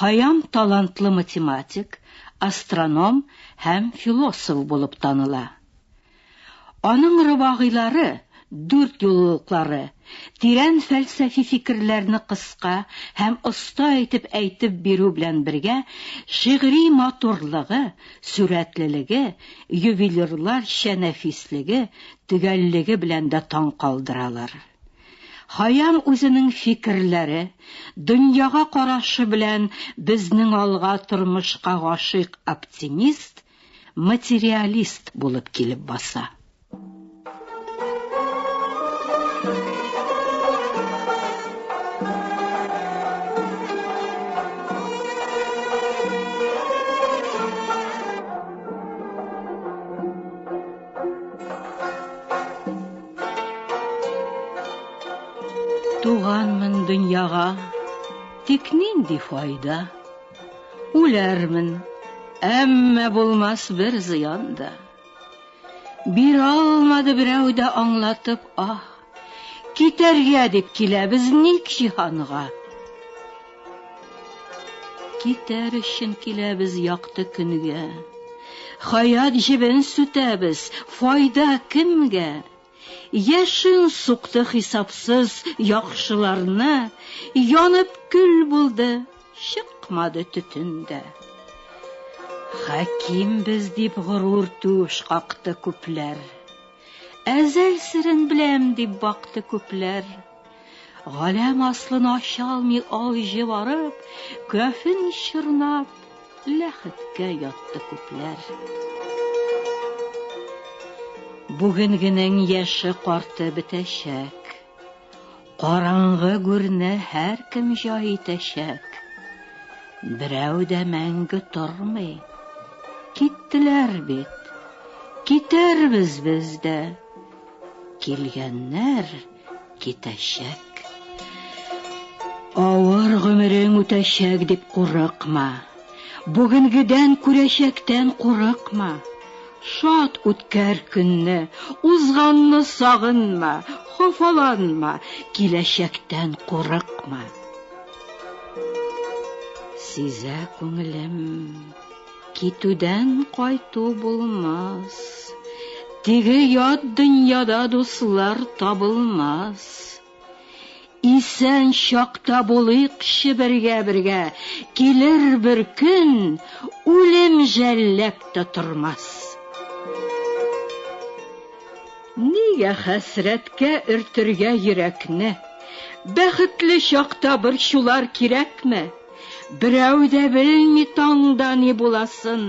Хәям талантлы математик, астроном һәм философ булып таныла. Аның рыбагыйлары, Дүрт юлылыклары, тирән фәлсәфи фикерләрне кыска һәм оста итеп әйтеп бирү белән бергә, шигъри матурлыгы, сурәтлелеге, ювелирларча нәфислеге, төгәллеге белән дә таң калдыралар. Хаян үзенең фикерләре, дөньяга карашы белән безнең алга тормышка гашыйк оптимист, материалист булып килеп баса. Туганмын дөньяга, тик нинди файда? Үләрмен, әмма булмас бер зыян да. Биралмады берәү дә аңлатып аһ. Китәргә дип киләбез ник җиһанга? Китәр өчен киләбез якты көнгә. Хәят җебен сүтәбез, файда кемгә? Яшен сукты хисапсыз яхшыларны, Янып көл булды, чыкмады төтен дә. Хәкимбез дип горур түш какты күпләр. Әзәл серен беләм, дип бакты күпләр. Галәм аслын ача алмый алҗы барып, кафен чорнап, ләхеткә ятты күпләр. Бүгенгенең яше карты бетәчәк. Караңгы гүрне һәркем җай итәчәк. Берәү дә мәңге тормый. Киттеләр бит. Китәрбез без дә. Килгәннәр китәчәк. Авыр гомерең үтәчәк дип курыкма. Бүгенгедән күрәчәктән курыкма, Шат үткәр көнне, узганны сагынма, Хафаланма, киләчәктән курыкма. Сизә күңелем, китүдән кайту булмас, Теге ят дөньяда дуслар табылмас. Исән чакта булыйкчы бергә-бергә, Килер бер көн, үлем жәлләп тә тормас. Нигә хәсрәткә өртергә йөрәкне? Бәхетле чакта борчулар кирәкме? Берәү дә белми таңда ни буласын,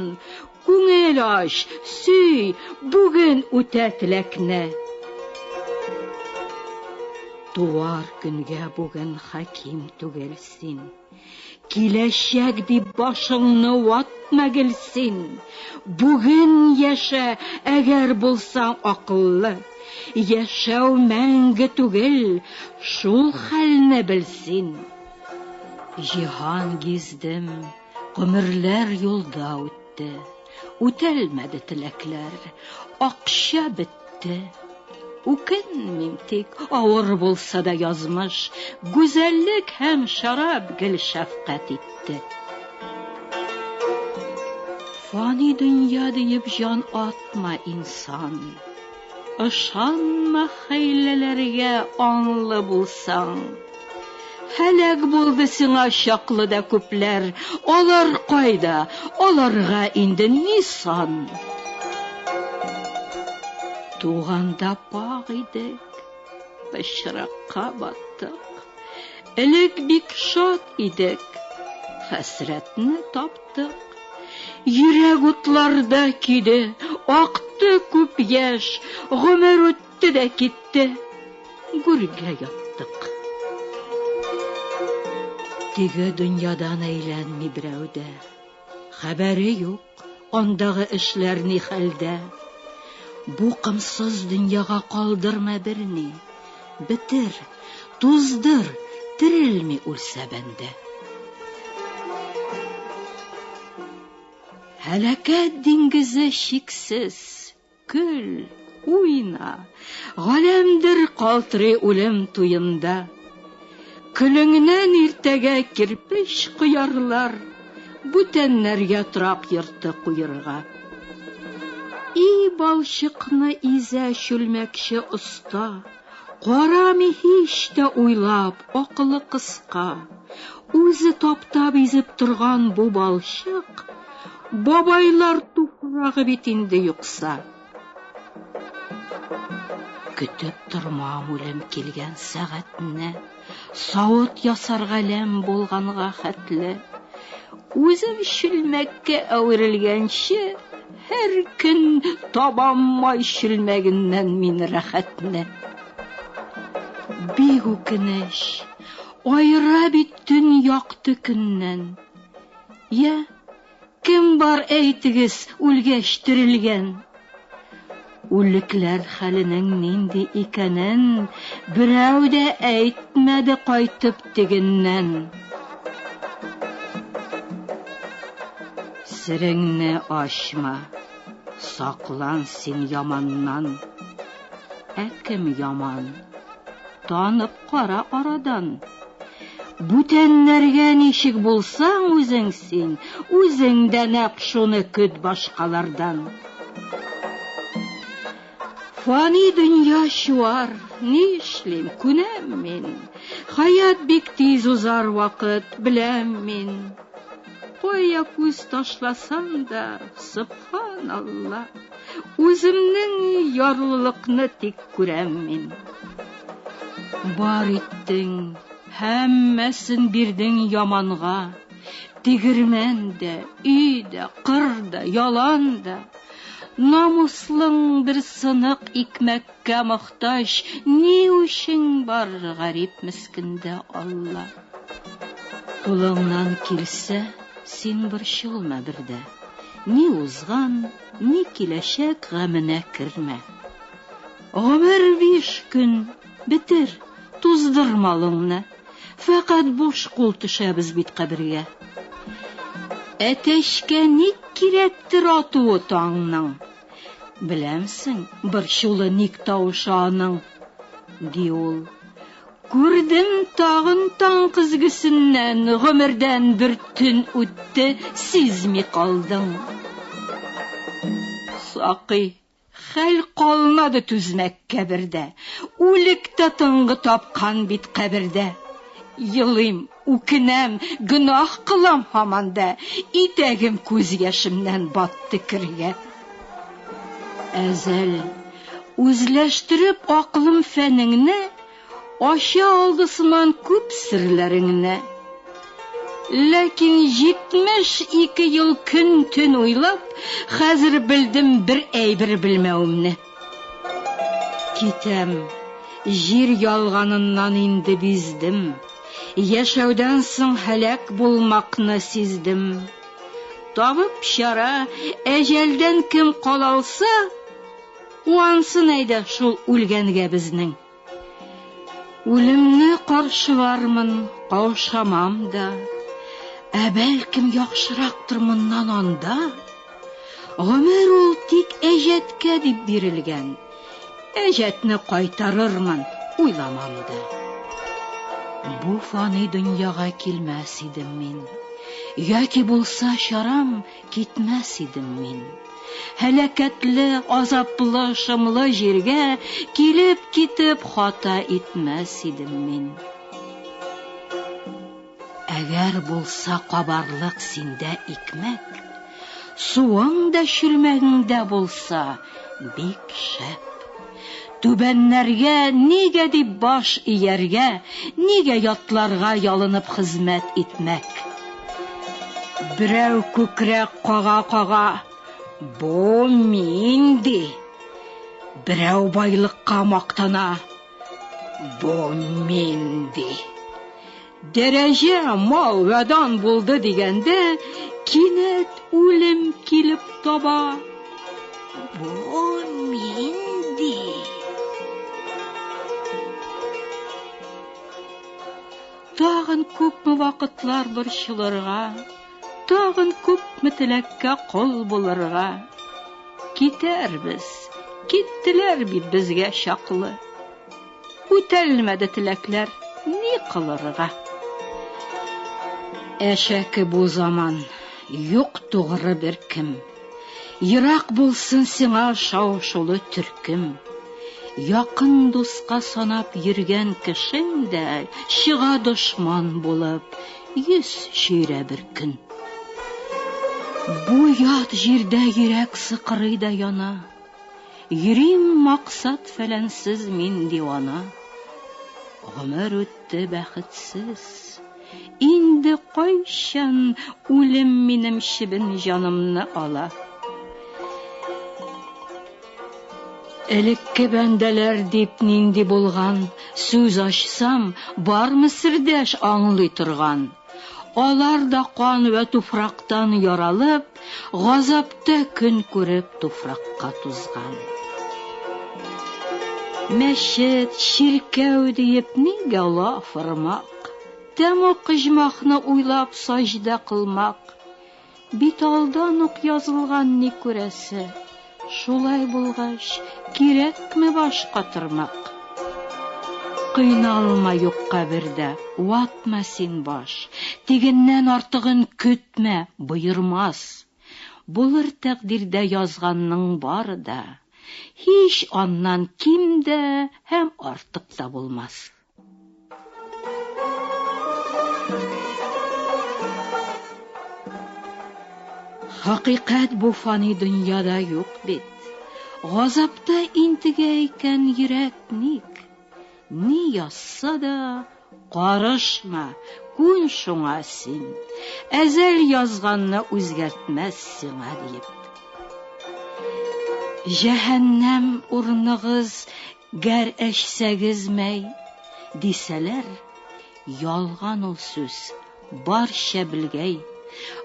Күңел ач, сөй, бүген үтә теләкне. Туар көнгә бүген хаким түгел син. Киләчәк дип башыңны ватма гел син. Бүген яшә, әгәр булсаң акыллы. Яшәү мәңге түгел, шул хәлне бел син. Җиһан гиздем, Гомерләр юлда үтте, үтәлмәде теләкләр, акча бетте. Үкенмим тик, авыр булса да язмыш, гүзәллек һәм шарап гел шәфкать итте. Фани дөнья диеп җан атма, инсан. Ышанма хәйләләргә аңлы булсаң. Һәлак булды сиңа чаклы да күпләр, алар кайда, аларга инде ни сан. Туганда пакь идек, пычракка баттык. Элек бик шат идек, хәсрәтне таптык. Яттык. Йөрәк утларда көйде, акты күп яшь, гомер үтте дә китте. Гүргә яттык. Теге дөньядан әйләнми берәү дә. Хәбәре юк, андагы эшләр ни хәлдә. Бу комсыз дөньяга калдырма берни. Бетер, туздыр, терелми үлсә бәндә. Һәлакәт диңгезе чиксез, көл, уйна, галәмдер калтырый үлем туенда. Көнеңнән иртәгә кирпеч коярлар, Бүтәннәргә трак йорты куерга. И балчыкны изә чүлмәкче оста, Карамый һич тә уйлап, акылы кыска. Үзе таптап изеп торган бу балчык, Бабайлар туфрагы бит инде юкса. Көтеп тормам үлем килгән сәгатьне, Савыт ясар галәм булганга хәтле. Үзем чүлмәккә әверелгәнче, Һәр көн табам май чүлмәгеннән мин рәхәтне. Бик үкенеч, аера бит төн якты көннән. Я, Кем бар, әйтегез, үлгәч терелгән? Үлекләр хәленең нинди икәнен берәү дә әйтмәде кайтып тегеннән. Сереңне ачма, саклан син яманнан. Ә кем яман? Танып кара арадан. Бүтәннәргә ничек булсаң үзең син, үзең дә нәкъ шуны көт башкалардан. Фани дөнья чуар, ни эшлим, күнәм мин. Хаят бик тиз узар вакыт, беләм мин. Кая күз ташласаң да, субханалла, үземнең ярлылыкны тик күрәм мин. Бар иттең, һәммәсен бирдең яманга, тегермән дә, өй дә, кыр да, ялан да. Намуслың бер сынык икмәккә мохтаҗ, ни үчен бар гарип мескендә Алла? Кулыңнан килсә, син борчылма бер дә. Ни узган, ни киләчәк гаменә кермә. Гомер биш көн, бетер, туздыр малыңны. Фәкать буш кул төшәбез бит кабергә. Әтәчкә ник кирәктер атуы таңның? Беләмсең, борчулы ник тавышы аның? ди ул. Күрдем тагын таң көзгесеннән, гомердән бер төн үтте, сизми калдың. Сакый, хәл калмады түзмәк кәбердә, үлек тә тынгы тапкан бит кабердә. Елыйм, Үкенәм, гөнаһ кылам һаман да, Итәгем күз яшемнән батты кергә. Әзәл, үзләштереп акылым фәнеңне, Ача алды сыман күп серләреңне. Ләкин җитмеш ике ел көн-төн уйлап, Хәзер белдем бер әйбер белмәвемне. Китәм, җир ялганыннан инде биздем, Яшәүдән соң һәлак булмакны сиздем. Табып чара, әҗәлдән кем кала алса, Куансын әйдә шул үлгәнгә безнең. Үлемне каршылармын, каушамам да, Ә бәлкем яхшырактыр моннан анда? Гомер ул тик әҗәткә дип бирелгән, Әҗәтне кайтарырмын, уйламам да. Бу фани дөньяга килмәс идем мин, Яки булса чарам, Китмәс идем мин. Һәлакәтле, азаплы, шомлы җиргә килеп-китеп хата итмәс идем мин. Әгәр булса кабарлык синдә икмәк, суың да чүлмәгеңдә булса, Бик шәп! Түбәннәргә нигә дип баш ияргә, нигә ятларга ялынып хезмәт итмәк? Берәү күкрәк кага-кага, Бу мин! ди. Берәү байлыкка мактана, Бу мин! ди. Дәрәҗә, мал вә дан булды дигәндә, кинәт үлем килеп таба. Бу нинди? Тагын күпме вакытлар борчылырга, тагын күпме теләккә кол булырга. Китәрбез, киттеләр бит безгә чаклы. Үтәлмәде теләкләр, ни кылырыга? Әшәке бу заман, юк тугры беркем. Ерак булсын сиңа шау-шулы төркем. Якын дуска санап йөргән кешең дә, чыга дошман булып, йөз чөйрә беркөн. Бу ят җирдә йөрәк сыкрый да яна. Йөрим максат-фәләнсез мин дивана. Гомер үтте бәхетсез. Инде кайчан үлем минем чебен җанымны ала? Элекке бәндәләр дип нинди булган, сүз ачсам, бармы сердәш аңлый торган? Алар да кан вә туфрактан яралып, газаптә көн күреп туфракка тузган. Мәчет, чиркәү диеп нигә лаф ырмак? Тәмуг оҗмахны уйлап саҗдә кылмак. Бит алдан ук язылган ни күрәсе. Шулай булгач, кирәкме баш катырмак? Кыйналма юкка бердә, ватма син баш. Тегеннән артыгын көтмә, боермас. Булыр тәкъдирдә язганның бары да. Һич аннан ким дә һәм артык та булмас. Хакыйкать бу фани дөньяда юк бит. Газапта интегә икән йөрәк ник? Ни язса да карышма, күн шуңа син. Әзәл язганны үзгәртмәс сиңа диеп. Җәһәннәм урныгыз Гәр әчсәгез мәй, дисәләр, ялган ул сүз, бар чәбелгәй.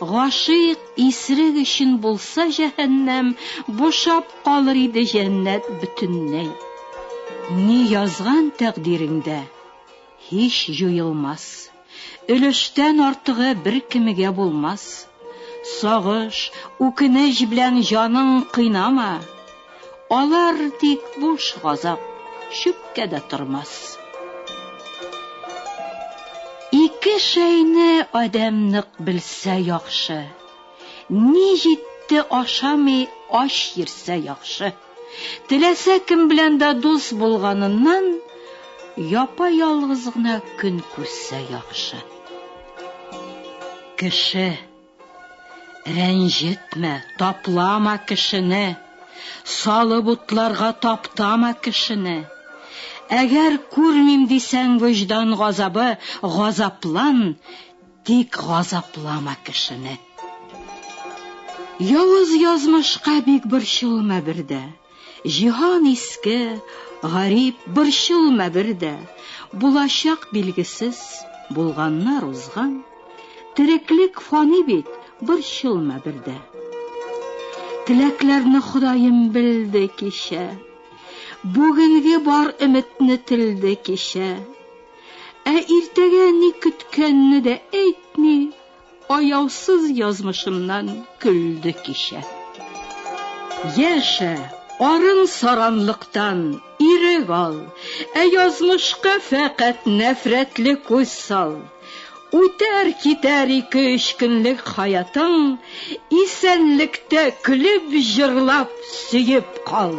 Гашыйк исрек өчен булса җәһәннәм, бушап калыр иде җәннәт бөтеннәй. Ни язган тәкъдиреңдә, һич җуелмас. Өлештән артыгы беркемегә булмас. Сагыш, үкенеч белән җаның кыйнама. Алар тик буш газап, чүпкә дә тормас. Ике шәйне адәм нык белсә яхшы, Ни җитте ашамый ач йөрсә яхшы. Теләсә кем белән дә дус булганыннан, япа-ялгыз гына көн күрсә яхшы. Кеше. Рәнҗетмә, таплама кешене, салып утларга таптама кешене. Әгәр күрмим дисәң, вөҗдан газабы, газаплан, Тик газаплама кешене. Явыз язмышка бик борчылма бер дә. Җиһан иске, гарип, борчылма бер дә. Булачак билгесез, булганнар узган. Тереклек фани бит, борчылма бер дә. Теләкләрне Ходаем белде кичә. Бүгенге бар өметне телде кичә. Ә иртәгә ни көткәнне дә әйтми, аяусыз язмышымнан көлде кичә. Яшә, арын саранлыктан, ирек ал, ә язмышка фәкать нәфрәтле күз сал. Үтәр китәр ике-өч көнлек хаятың, исәнлектә көлеп җырлап сөеп кал.